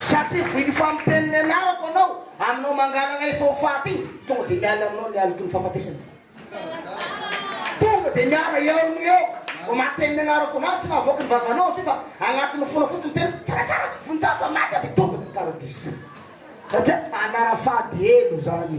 Satria voin'ny famotehan'ny ny anarako anao aminao mangalagna efa ho faty tonga dia miala aminao ny aloky ny fahafatesany tonga dia miala eo no eo vao maten'ny anarako anao tsy mahavoaka ny vavanao izy io fa agnatin'ny fona fotsiny miteny tsara tsara vonjeo fa maty aty tonga dia paradisa satria anara fady helo zany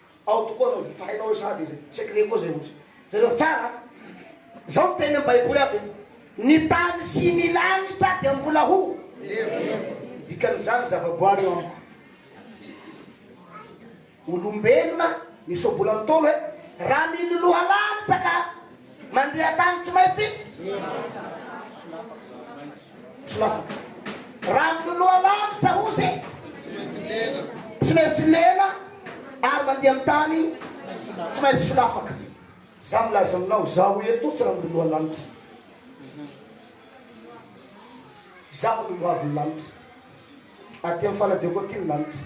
Ao tokoa anao zay fa hainao hoe sady zay. Secret koa zay ozy. Jereo tsara an. Zao ny tenin'ny baiboly ato. Ny tany sy ny lanitra dia mbola ho. Dikan'izany zavaboary eo amiko. Olombelona miseho bola ntaolo e. Raha miloloha lanitra ka mandeha tany tsy maintsy. Rano loha lavitra hozy tsy maintsy lena ary mandeha amin'ny tany tsy maintsy solafaka. Za milaza aminao zaho eto tsy rano loha lanitra. Zaho ny lohavon'ny lanitra. Aty amin'ny fanadioko aty ny lanitra.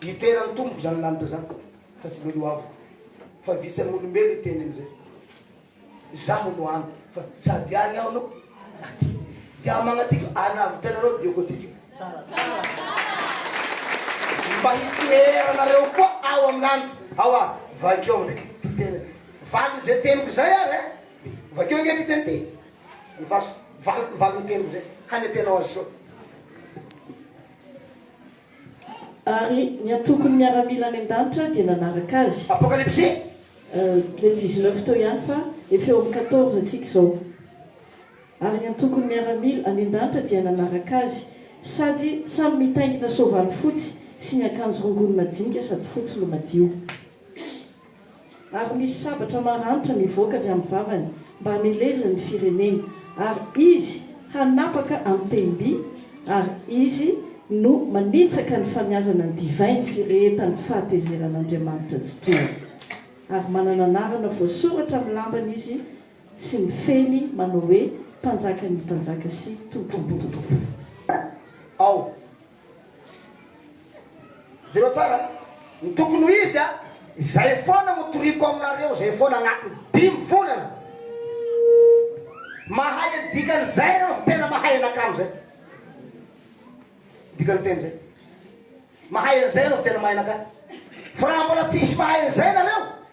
Hidera ny Tompo izany lanitra izany fa tsy lolo avoka fa vitsy amin'ny olombelona hiteny an'izay. Izaho no any fa sady any aho no aty. Dia aho magnatiko hanavotra anareo dia hoatiko. Mba hitoera anareo koa ao amin'ny lanitra ao aho. Vakio amin'izay ity teny valin'izay teniko izay ary e. Vakio ange ity teny ity. Ny vaso valin'ny teniko izay hanetenao azy soa. Ary ny antokon'ny miaramila any an-danitra dia nanaraka azy. Apokalypsy. Le dix-neuf teo ihany fa efa eo amin'ny quatorze tsika izao. Ary ny antokon'ny miaramila any an-danitra dia nanaraka azy, sady samy mitaingina soavaly fotsy sy niakanjo rongony madinika sady fotsy no madio. ary misy sabatra maranitra mivoaka avy amin'ny vavany mba hamelezany ny fireneny, ary izy hanapaka an-tehim-by, ary izy no manitsaka ny famiazana ny divay ny firehetan'ny fahatezeran'Andriamanitra tsy tohana, ary manana anarana voasoratra amin'ny lambany izy, sy mifehy manao hoe, Mpanjakan'ny mpanjaka sy Tompon'ny tompo. Ao. Jereo tsara ny tokony ho izy a! Izay foana no toriako aminareo, izay foana anatin'ny dimy volana. Mahay ny dikan'izay ianareo fa tena mahay anakamo izay. Ny dikan'ny teny izay. Mahay an'izay ianareo fa tena mahay anakamo. Fa raha mbola tsisy mahay an'izay ianareo,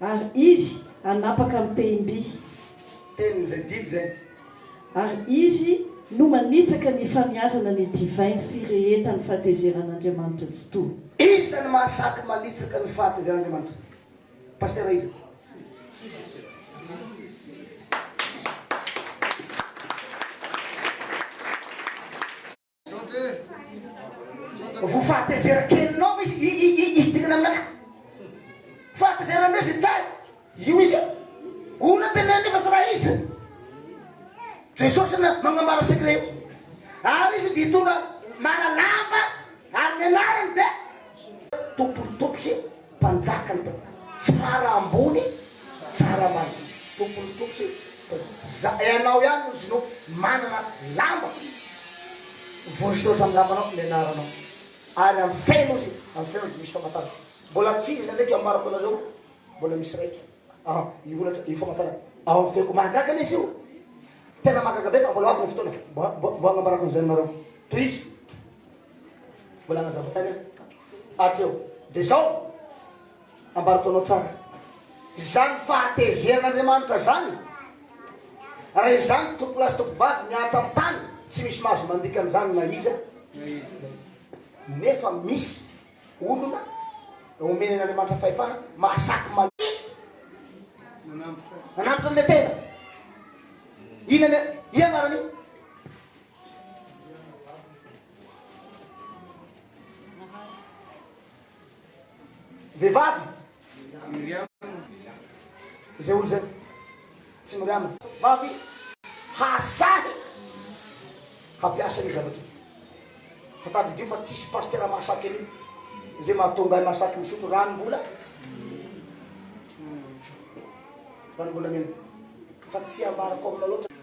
Ary izy hanapaka ny tehim-by. Tenin'izay didy izay. Ary izy no manitsaka ny famiazana ny divainy firehetan'ny fahatezeran'Andriamanitra Tsitoha. Iza no mahasaky manitsaka ny fahatezeran'Andriamanitra? Pasitera iza? Vao fahatezera kelinao ve izy dingana aminakahy? Fahatezera ndray izy tsara. Io izy. Ona tena nefa tsy raha izy. Jesosy na magnambara secret io. Ary izy dia hitondra manalamba ary ny anarany dia tompony tompo sy Mpanjaka ny tompo tsara ambony tsara ambany Tompon ny tompo sy za ianao ihany no zino manana lamba voasoratra amin'ny lambanao ny anaranao ary amin'ny feno izy amin'ny feno dia misy famantarana mbola tsy iza ndraiky ambarako anareo mbola misy raiky ah io holatra io famantarana ao amin'ny feoko mahagaga lesy io tena mahagaga be fa mbola ho avy ny fotoana mbo mbo mbo hagnambarako an'izay aminareo tohizo Mbola nazava tany ato eo. Dia izao, ambarako anao tsara. Izany fahatezeran'Andriamanitra izany, raha izany tompolahy sy tompovavy mihatra amin'ny tany, tsy misy mahazo mandika an'izany na iza na iza. Nefa misy olona omen'Andriamanitra fahefana mahasaky mania manambotra an'ilay tena. Inona ny ianarany? Vehivavy. Izay olo zay. Tsy miriama. Vavy hahasahy hampiasa ny zavatra. Fa tadidio fa tsisy pasteur mahasaky an'io. Izay mahatonga ahy mahasaky misotro ranom-bola. Ranom-bolamena. Fa tsy ambarako aminao loatra.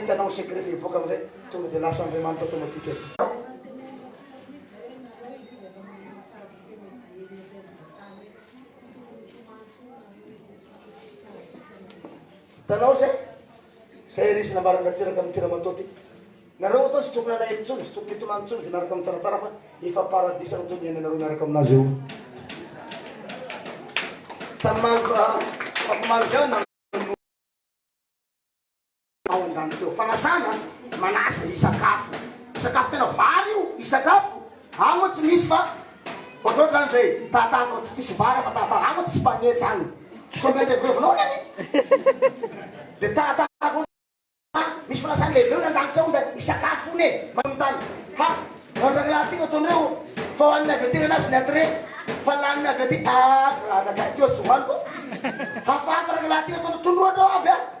Hitanao ny secret fa hivoaka amizay tonga de lasa Andriamanitra automatique aby. Hitanao zay? Zay ry izy nambaran'i Ratsiraka amity Ramatoa ty. Nareo atoa tsy tokony alahelo tsony, tsy tokony hitomany tsony ze miaraka mitsaratsara fa efa paradisa no toy ny iainanareo miaraka aminazy eo. Tany Malva, Fako Malga na. ao an-danitra eo. Fanasana, manasa, ny sakafo. Sakafo tena vary io, ny sakafo. Any moa tsy misy fa ohatrohatry izany izay tahatahaka tsy diso vary fa tahatahaka, any moa tsy spaghetti izany. Tsy koa mety revirevinao anie ny. Dia tahatahaka ohatrany fa misy fanasana lehibe hono an-danitra ao dia ny sakafo hono e. Manontany, ha, ho an-dry rahalahy ity no ataonareo fa ho an'ny naveterana azy ny entrée fa lany ny avy aty. Aah, ry rahalahy, teo tsy hohaniko. Hafahafa rahalahy ity ataonao, tondroinao aby an.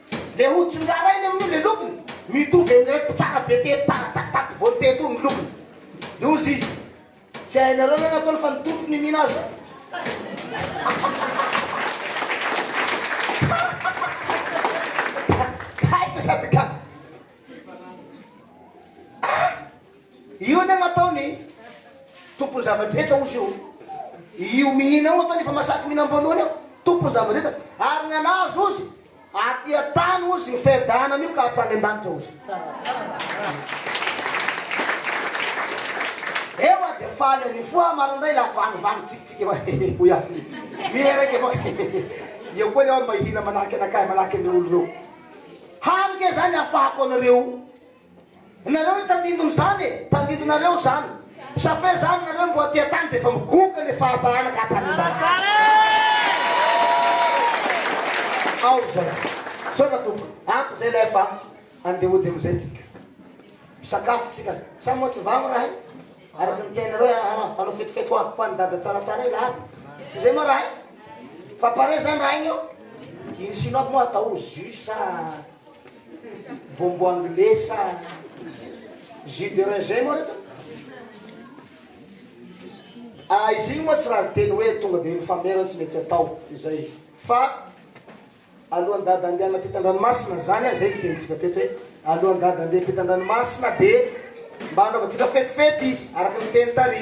Le ho tsingarainy amin'io le lokony mitovy amin'ilay mpitsara be teto tara tato tato vao teto io ny lokony de hozy izy tsy hainareo ve ny ataony fa ny tompony io mihina azy Taitra sady ka ah! Io anie no ataony tompony zava-drehetra ozy io io mihina io ataony efa masaky mihina amboalohany io tompony zava-drehetra ary ny anazy ozy aty an-tany ozy ny fiadanana an'io ka hatrany an-danitra ozy ewa dia faly an'io foa marandray la vanivany tsikitsiky ewa hehe hoy aho miheraika ewa hehe eo koa lewa mahihina manahaka anakahy manahaka ny olo reo hany ke zany afahako anareo Nareo no tandindon izany e! Tandindo nareo izany! Sa fe zany nareo mboa aty atany de efa migoka le fahatsarana ka tandindonareo ao zay! Misaotra tompoko! Ampy zay lay fa ande hody amizay tsika! Misakafo tsika! Sa moa tsy vamo rahay? Araka ny teninareo eh ah ah hanao fetifety hoa ho any dada tsaratsara ila ady! Tsy zay moa rahay? Fa pare zany rahay io? Iny sinoa aby moa atao jus sa. Bonbon anglais sa jus de raisin moa reto? Ah, izy igny moa tsy raha niteny hoe tonga dia mifamera tsy maintsy atao, tsy izay. Fa alohan'ny dada handeha hanapita an-dranomasina, izany ary izay no tenintsika teto hoe alohan'ny dada handeha hiampita an-dranomasina dia mba hanaovantsika fetifety izy, araka ny teny tary.